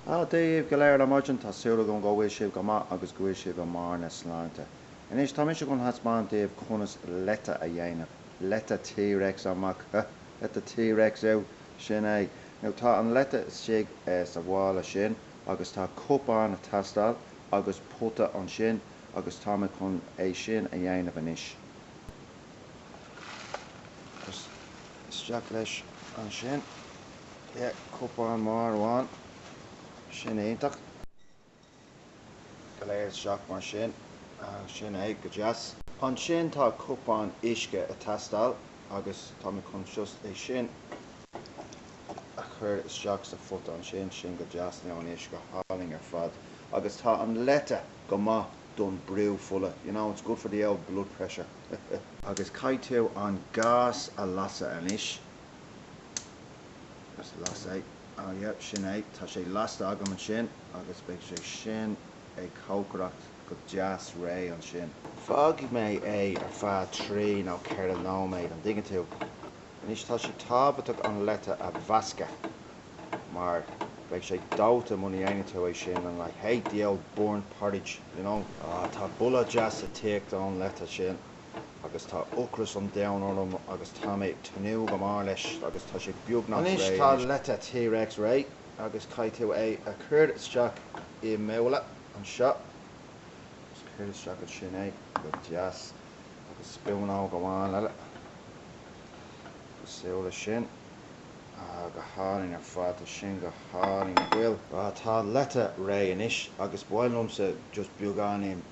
Dia daoibh go léir ar maidin, tá súil agam go bhfuil sibh go maith agus go bhfuil sibh i mbarr na sláinte. Anois, tá mise chun thaispeáint daoibh conas leite a dhéanamh. Leite T-Rex amach, ha! Leite T-Rex ew! Sin é. Now, tá an leite istigh sa mhála sin agus tá cupán ag teastáil agus pota ansin agus tá mé chun é sin a dhéanamh anois. Isteach leis ansin. Pé cupán mór amháin, sin iontach. Go léir isteach mar sin, sin é go deas. Ansin tá cupán uisce ag teastáil agus tá mé chun just é sin a chur isteach sa phota ansin, sin go deas, now an uisce go hálainn ar fad agus tá an leite go maith don brú fola, you know it's good for the old blood pressure. Agus caithfidh tú an gas a lasadh anois. Just las é. Oh yeah, sin é. Tá sé lasta agam ansin agus beidh sé sin ag cócaireacht go deas réidh ansin. Fágfaidh mé é ar feadh trí nó ceithre nóiméad, an dtuigeann tú. Anois, tá sé tábhachtach an leite a mheascadh mar beidh sé dóite muna dhéanann tú é sin and I hate the old burnt porridge, you know. Ah, tá boladh deas ag teacht ón leite sin. agus tá ocras an domhain orm agus tá mé ag tnúth go mór leis agus tá sé beagnach réidh anois. Anois tá leite T-Rex réidh agus caithfidh tú é a chur isteach i mbabhla anseo agus cuir isteach ansin é go deas agus spúnóg amháin eile cosúil leis sin. Ah, go hálainn ar fad, tá sin go hálainn nach bhfuil. Tá leite réidh anois agus b'áil liomsa just beagáinín